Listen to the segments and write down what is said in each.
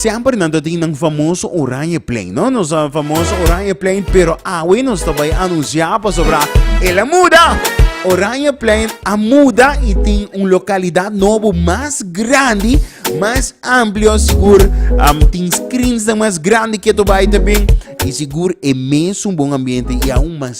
Semper nan ta tin nan famoso oranje plein, no? Nos a famoso oranje plein, pero awe nos ta bay anuncia pasobra el a muda. Oranje plein a muda y tin un localidad nobo mas grandi, mas amplio, sigur um, tin screens dan mas grandi que to bay también. Y sigur e mes un bon ambiente y aún mas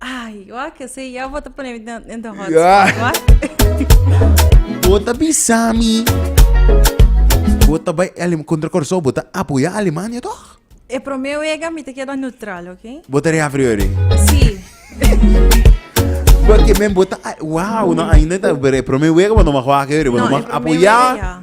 Ay, yo a kese ya bo te pone in the hot spot. Bota bisami. Bota bay Alemania contra Corso, bota apoya Alemania toch? E promeo ega mi te queda neutral, oké? Bota de apriori. Sí. Porque men bota, wow, no ainda ta bere promeo ega, no mag waak eri, no mag apoya.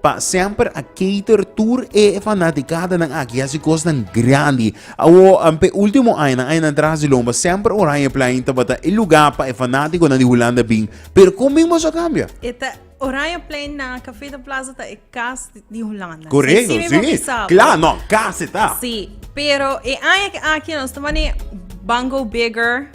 Pa semper a cater tur e fanaticadanan aki hasi cosnan grandi. Awor, p'e ultimo añanan, añanan tras di lomba, semper Oranjeplein tabata e luga pa e fanaticonan di Hulanda bin. Pero con bin boso a cambia? E ta Oranjeplein na Café de Plaza ta e cas di Hulanda. Correcto, si mismo si. bisa bo. Cla, no, cas e ta. Si, pero e aña ke aki nos ta manera ban go bigger,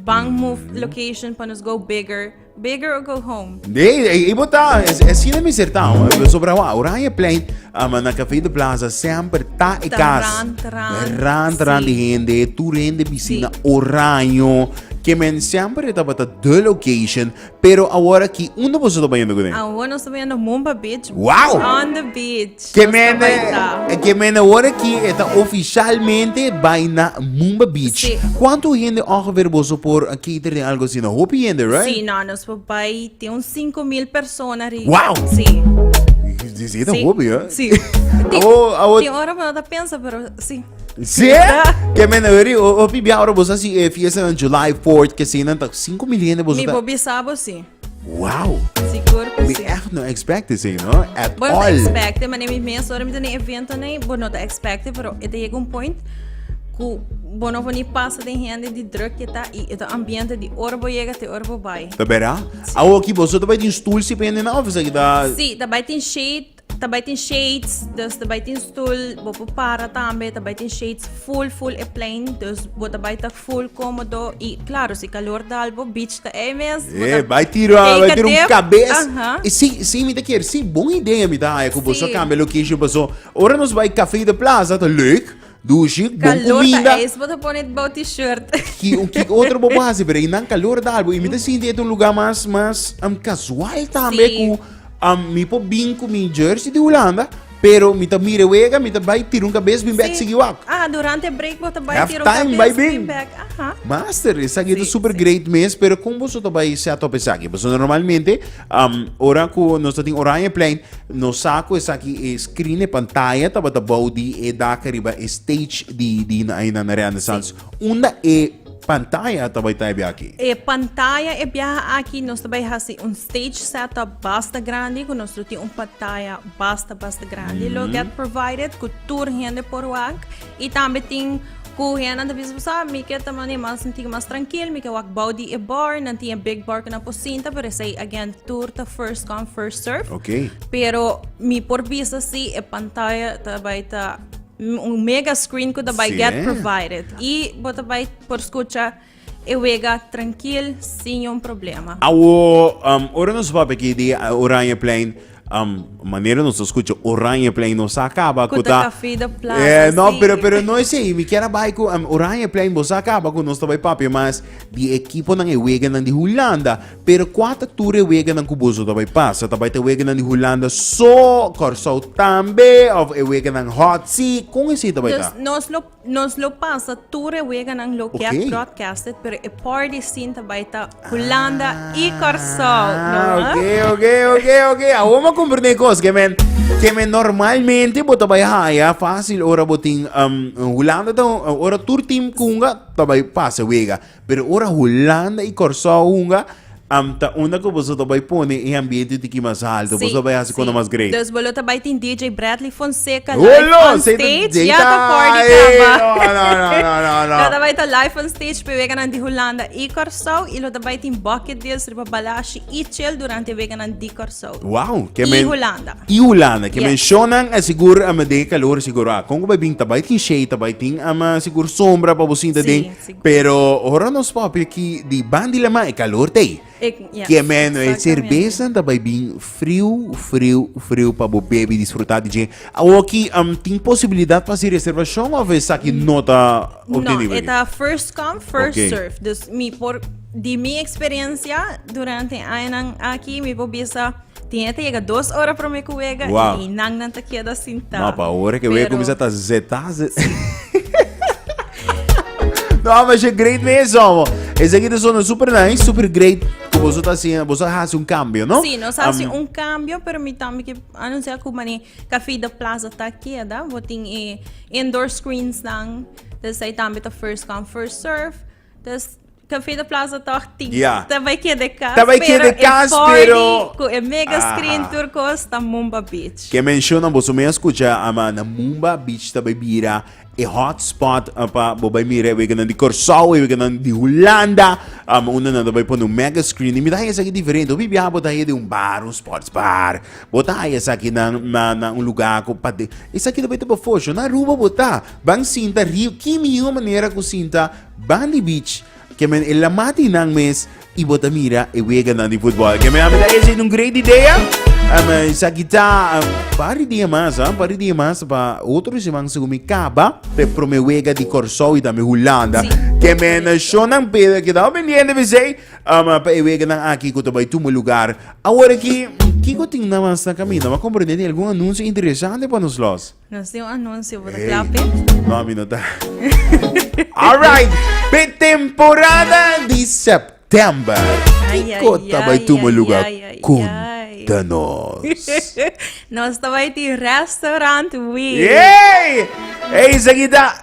ban move location pa nos go bigger. Bigger or go home. Nee, ei, ei bo ta, es, es sina mi ser ta, eh, sobra wa, oranje plein, ah, maar na Café de Plaza semper ta e Ta kas. ran, ta ran, Ran, ta ran sí. di hende, tu hende piscina Sí. oranjo, que men semper tabata de location, pero awor aki, unda boso ta bayendo ku den? Awor nos ta bayendo Mumba Beach. Wow! On the beach. Ke mene, ke mene ora ki e ta oficialmente bai na Mumba Beach. Sí. Cuanto hende ongeveer boso por a cater den algo asina? Hopi hende, right? Sí, no, nos por bai tin un 5000 persona ri. Wow! Sí. Dit is een hopi, hè? Sí. Tin, Awo, awo, tin ora pa ta pensa, pero sí. sí? Ke mene ori, o- hopi bia ora boso si eh, fiesta en July 4th, ke sinan tak 5 mil hende boso Mi ta. por bisa bo sí. Wow! Sigur ku mi si. echt no expect esei no, at Bueno, all. expecte, maar neem mes ora met een evento nee, bo no te expecte, pero e te llega un point ku bo no voni pasa den hende di druk ke ta i e ta ambiente di ora bo llega te ora bo bai. Ta bera? Awo ki boso ta bai tin stoel si pa hende nan of esaki ta Sí, ta bai tin shade, Ta bai tin shades, dus ta bai tin stoel, bo por para tambe, ta bai tin shades full full e plein, dus bo ta bai ta full comodo y claro si calor dal bo beach ta ey mes. bo Yeah, ta bai tiro, take bai a tiro un dip. cabes. Aha. Y sí, sí, mi te quiere, sí, bon idea mi te haya cu vos Sí. a cambia location, paso, ora nos bai café de plaza, ta leuk, Dushi, bon kuminda. Calor ta ta pone bou t-shirt. Ki, ki otro bo hasi, pero i nan calor da albo. I mi ta sinti et un lugar mas, mas um, casual tambe sí. ku um, mi po bin ku mi jersey di Hulanda, pero mi ta mire wega, mi ta bai tira un kabes bin bek sí. sigi wak. Ah, durante break bo ta bai tira un kabes bai bin. bin bek. Aha. Master, esaki sí, ta super sí. great mes, pero kon boso ta bai set up esaki? Boso normalmente, um, ora ku nos ta tin Oranje plein, Nos sa cu esaki e scrine, pantaya, tabata bou di e dak riba e stage di di na ayunan na Renaissance. Unda e pantaya ta bay ta e biaha aki? E pantaya e biaha aki nos ta bay haci un stage setup basta grandi cu nos lo tin un pantaya basta basta grandi lo get provided cu tur hende por wak. I tambe tin ku hendenan ta bisa, Sa, mi ke ta mane mas, mi tin mas trankil, mi ke wak bou di e bòr. Nan tin e big bòr ku nan por sinta, pero esei again tur ta first come, first serve. Ok. Pero mi por bisa si e pantaya ta bai ta un mega screen ku ta bai get provided. I bo ta bai por skucha. E wega trankil, sin niun problema. Awo, um, ora nos papia ki di uh, Oranje Plein, um, manera nos ta escucha Oranje Plein, nos a acaba Ku cu ta ta... kafi de plaza, Eh, no, sí. pero, pero no es ei. Mi kier a bai cu um, Oranje Plein, bos a acaba cu nos ta bai papia mas di equiponan e weganan di Hulanda. Pero cua ta tur e weganan cu boso ta bai pasa? Ta bai ta weganan di Hulanda so, Curaçao tambe, of e weganan Hot Sea? Con esei ta bai ta? Dus nos lo Nos lo pasa tur e weganan lo get Oké. broadcasted, pero e por di cinta bai ta Hulanda y Corsou. No, Ah, ah. oké, oké, oké, oké. Ahora me comprende een kos, que men, que men normalmente bo tabai haya fácil ora bo tin um, Hulanda ta ora tur team kunga tabai pasa wega. Pero ora Hulanda i Kòrsou hunga, am ta unda ku boso ta bai pone e ambiente tiki mas alto? Boso ta bai hasi kunda mas great? Dus bo lo ta bai tin DJ Bradley Fonseca live Holo! on Sey ta stage. dei Ya ta for di tai. kaba. No, no, no, no, no, no. Lo ta bai ta live on stage p'e weganan di Hulanda i Kòrsou i lo ta bai tin Bucket Deals riba Balashi i Chel durante e weganan di Kòrsou Wow, ke i men Hulanda. i Hulanda, ke men Yes. shownan a sigur am den e kalor sigur. Ah, kon ku bai bin ta bai tin shade, ta bai tin am sigur sombra pa bo sinta Sí, den. sí. Pero ora nos papia ki di ban di laman e kalor ta ei. Kier meno e serbesnan ta bai bin friu, friu, friu pa bo bebi i disfrutá di dje. Awoki tin posibilidat pa hasi reservashon òf esaki no ta obtenibel? No, e ta first come, first serve. Dus mi por, di mi eksperensia durante e añanan aki mi por bisa. Tin e ta yega dos ora prome ku wega wow. i nan nan ta keda sinta. No, pa ora ke wega kumisa ta zeta. no, mas je great mesmo. amo. Ese aqui suena super nice, super great. Como vos está haciendo, vos hace un cambio, ¿no? Sí, nos hace um, un cambio, pero mi también que anuncia que mani café de plaza está aquí, ¿verdad? Vos tiene eh, indoor screens, dan. Entonces ahí también está first come, first serve. Entonces, Café de Plaza toch tin. Ja. Ta bay keda e cas. Ta bay keda e cas, pero e 40 pero- cu e mega screen Aha. tur cos ta Mumba Beach. Ke mencionan boso mea scucha, ama na Mumba Beach ta bay bira e hot spot ah, pa bo bay mira e weganan di Corsou, e weganan di Hulanda, ama unda nan ta bay pone un mega screen. Y mi ta haya esaki diferente. Hopi biaha bo ta haya den un bar, un sports bar. Bo ta haya esakinan na na un lugar cu pa den. Esaki ta bay taba fosh. Nan Aruba bo ta. Ban sinta riu ki mihó manera ku sinta ban di beach ke men e lamati nan mes i bo ta mira e weganan di futbòl. Ke men a mira esei ta un great idea. Um, esaki ta um, par di dia mas, ah, par di dia mas pa otro seman segun mi kaba pe prome wega di Kòrsou i tambe Hulanda. Sí, Ke men correcto. shownan pe kedao pendiente besei um, pa e weganan aki ku ta bai tuma lugar. Awor aki, kiko tin nan mas na kaminda? M'a komprende tin algun anunsio interesante pa nos los. Nos tin un anuncio, bo ta kla p'e? Ey, no, mi no ta. Alright, pe temporada di september, Ay, ay, kiko ta bay ay, tuma ay, lugar? ay, ay, Contanos. Nos ta bay ti restaurant Wee. Yay! Ey, seguida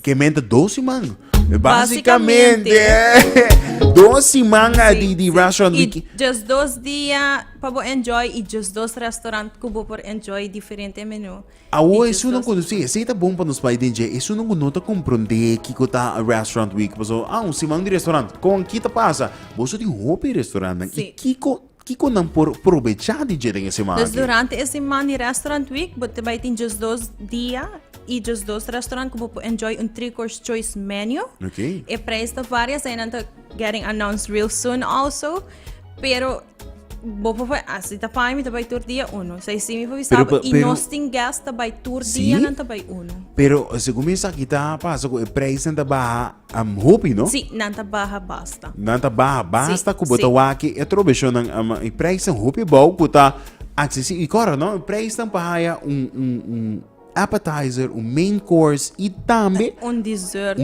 Ke men ta dos siman? Basikamente, dos siman di di restaurant wiki. I djes dos dia pa bo enjoy i djes dos restaurant ku bo por enjoy diferente menu. Awo esun nan ku, si, esei ta bon pa nos bai den dje. Esun nan ku no ta komprondé kiko ta restaurant wiki, paso, ah, un siman di restaurant. Kon? Ki ta pasa? Boso tin hopi restaurannan i kiko Kiko nan por probechá di dje den e seman aki? Pues durante e seman di Restaurant Week bo ta bai tin djes dos dia i djes dos restaurant ku bo por enjoy un three course choice menu. Okay. E prijs ta varia, esei nan ta getting announced real soon also. Pero bo por bai, ah, si ta paña mi ta bai tur dia uno. Esei si mi por bisa Pero bo, pa- i pero- nos tin guest ta bai tur Sí. dia, nan ta bai uno. Pero segun mi esaki ta pasa ku e prijsnan ta baha Am hopi no. Sí, nan ta baha basta. Nan ta baha basta ku bo ta waki e trobeshonnan ama i preisnan hopi bou ku ta aksesi i kòrda no preisnan pa haya un un un appetizer, un main course i tambe un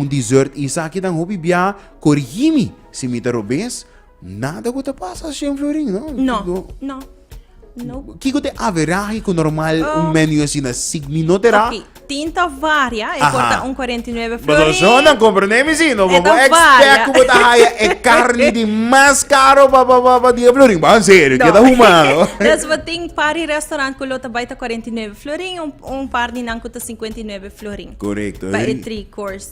dessert i esaki tan hopi bia korigimi si mi ta robes. Nada ku ta pasa así en Florin, no? No, no. No. Kiko ta e averahe ku normal un menu asina signi no tera? Oki, tin ta varia, e por ta un kuarenta i nuebe Florin. Paso so nan komprendé mi si, no? Bo bo ekspèk ku bo ta haya e karni di mas karo pa pa pa pa di e Florin? Bo an serio, keda humano. Des bo tin par di restorant ku lo ta bai ta kuarenta i nuebe Florin, un par di nan ku ta sinkuenta i nuebe Florin. Korekto. Pa e tri course.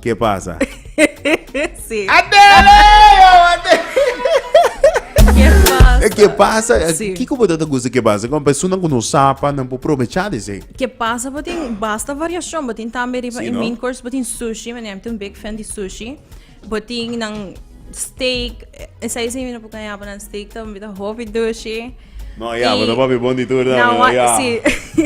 Ke pasa? Sí. Adele! Ke pasa? Eh, Ke pasa? Eh, Sí. Kiko bo ta gusta ke pasa? Kon personan ku no sapa, nan po probecha di se. Ke pasa botin basta variashon. Botin tambe riba Sí, in no? main course botin sushi. Mi neem tin un big fan di sushi. Botin nan steak. Esei si mi no por kaña bo nan steak tambe ta hopi dushi. No, ya, bo ta papi bon di tur tambe, no, ya. Si,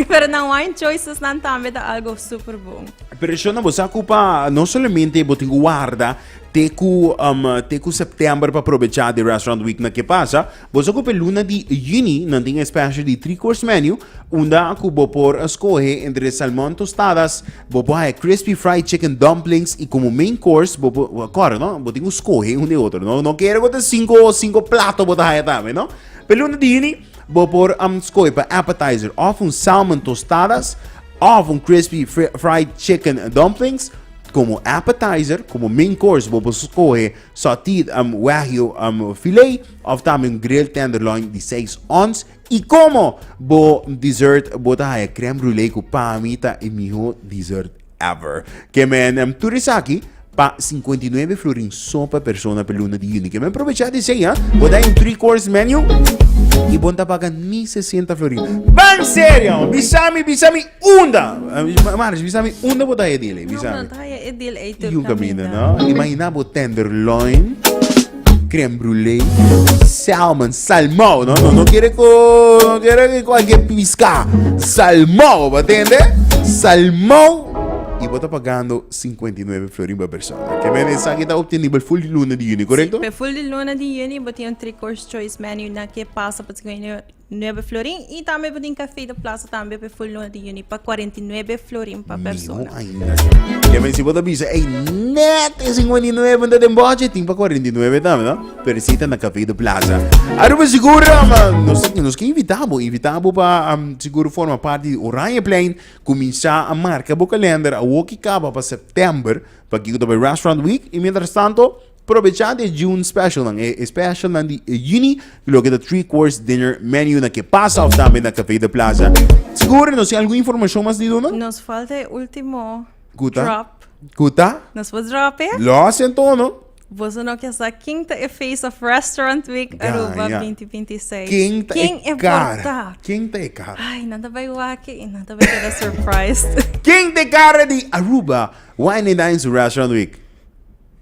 pero na wine choices nan tambe ta algo super bon. Pero Shona, bo sa ku pa, no solamente bo tin ku warda te ku, um, te ku september pa aprovechá de Restaurant Week na ke pasa, bo sa ku pe luna di juni nan tin e special di three course menu, unda ku bo por skohe entre salmon tostadas, bo por haya crispy fried chicken dumplings i komo main course bo por, kòrda no, bo tin ku skohe un di otro, no, no kere ku ta sinku, sinku plato bo ta haya tambe, no. P'e luna di juni, bo por um skohe pa appetizer òf un salmon tostadas òf un crispy fried chicken dumplings. Komo appetizer, komo main course bo por skohe sauteed um wagyu um filet òf tambe un grilled tenderloin di seis ons. I komo bo dessert bo ta haya crème brûlée ku pami ta e mihó dessert. Ever. Ke men em tur esaki pa sinkuenta i nuebe florin so pa persona pa e luna di yuni. Ke men probechá di esei, ha? Bo ta den three course menu i bo no ta paga ni sesenta florin. Ban serio, ha? Bisa mi, bisa mi unda, March, bisa mi unda bo ta haya e deal ei, bisa mi. Yu caminda, no? Imaginá bo tenderloin. Crème brûlée y salmon, salmao, no, no, no quiere co, no quiere que cualquier pisca, salmao, ¿me entiende? Salmao y vos está pagando 59 florin per persona. Que men esa que está obtenible full de luna de juni, correcto? Pe full di luna di juni bo tin un three course choice menu na ke pasa pa tsikuini Nueve florin y tambe bo tin cafe de plaza tambe pe full luna di juni pa cuarenta y nueve florin pa persona. Mino ainda si. Porque men si bo ta bisa, ey, net e cincuenta y nueve ta den boche, tin pa cuarenta y nueve tambe, no? Pero si ta na Café de Plaza. Aruba sigur, um, nos, nos ke invita bo, invita bo pa um, sigur forma parti di Oranjeplein. Cuminsa a marca bo calender awoki caba pa september, pakico ta bay Restaurant Week. Y mientras tanto, Probechá di e June specialnan, e specialnan di e Juni, ku loke ta Three Course Dinner Menu na ke pasa òf tambe na Café de Plaza. Sigur, nos tin algun informashon mas di duna? Nos falta e último Ku ta? drop. Ku ta? Nos por drop e? Lo hasi antono. Boso no ke sa ken ta e Face of Restaurant Week Aruba Gaya. beinti beinti i seis. Ken ta Ken e e por kara? ta? Ken ta e kara? Ai, nan ta bai wak i nan ta bai keda surprised. Ken ta e kara di Aruba Wine and Dines Restaurant Week?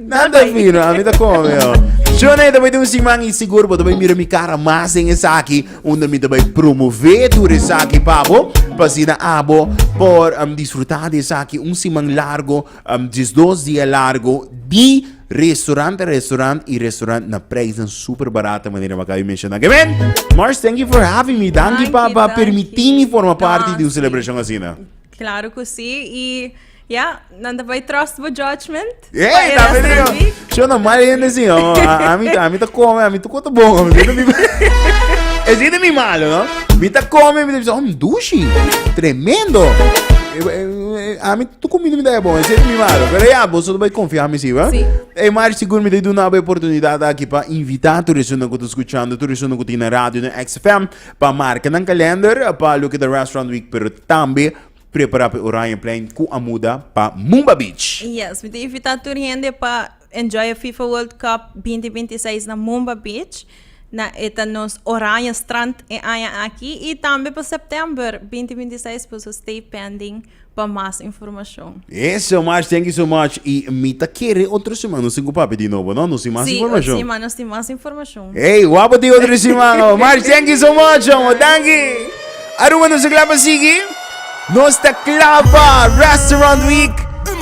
Nada fino, a mi ta con yo. Johnny, te bay un siman y seguro bo te bay mira mi cara más en esa aquí, donde mi te bay promover tu esa aquí, pabo, pasina abo por um, disfrutar de esa aquí un siman largo, um, dis dos dia largo di restaurant te restaurant y restaurant na prijzen super barato manera me acaba menciona. Amen. Mars, thank you for having me. Dankie, Dankie, papa, dankie. permitimi forma parte di un celebración asina. Claro que sí. Y Ya, nan ta bai trust bo judgment. Hey, ta bene yo. Yo no mal hende sin yo. A mi ta, a mi ta come, a mi tu kota bon. Es de mi malo, no? Mi ta come, mi ta bisa, oh, dushi. Tremendo. A mi tu comida mi da bon, es de mi malo. Pero ya, vos no bai confiar mi si, va? Sí. Hey, Mari, seguro mi te doe una oportunidad aquí para invitar tu resumen que te escuchando, tu resumen que tiene radio en XFM, para marcar en calendar, para lo que de Restaurant Week, pero también Prepara pa e Oranjeplein cu a muda pa Mumba Beach! Yes, mi ta invita tur hende pa enjoy e FIFA World Cup binti binti seis na Mumba Beach. Na e ta nos Oranje Strand e aña aki y tambe pa September binti binti seis por eso stay pending pa mas informacion. Eso mas, thank you so much y mi ta kere otro semana nos tin cu papia di nobo no, nos tin mas informacion. Sí, otro semana nos tin mas informacion. Hey, guapo ti otro si man. Oh. March, thank you so much, amo. Thank you. Aruba nos a clapa sigi. Nos ta clapa Restaurant Week.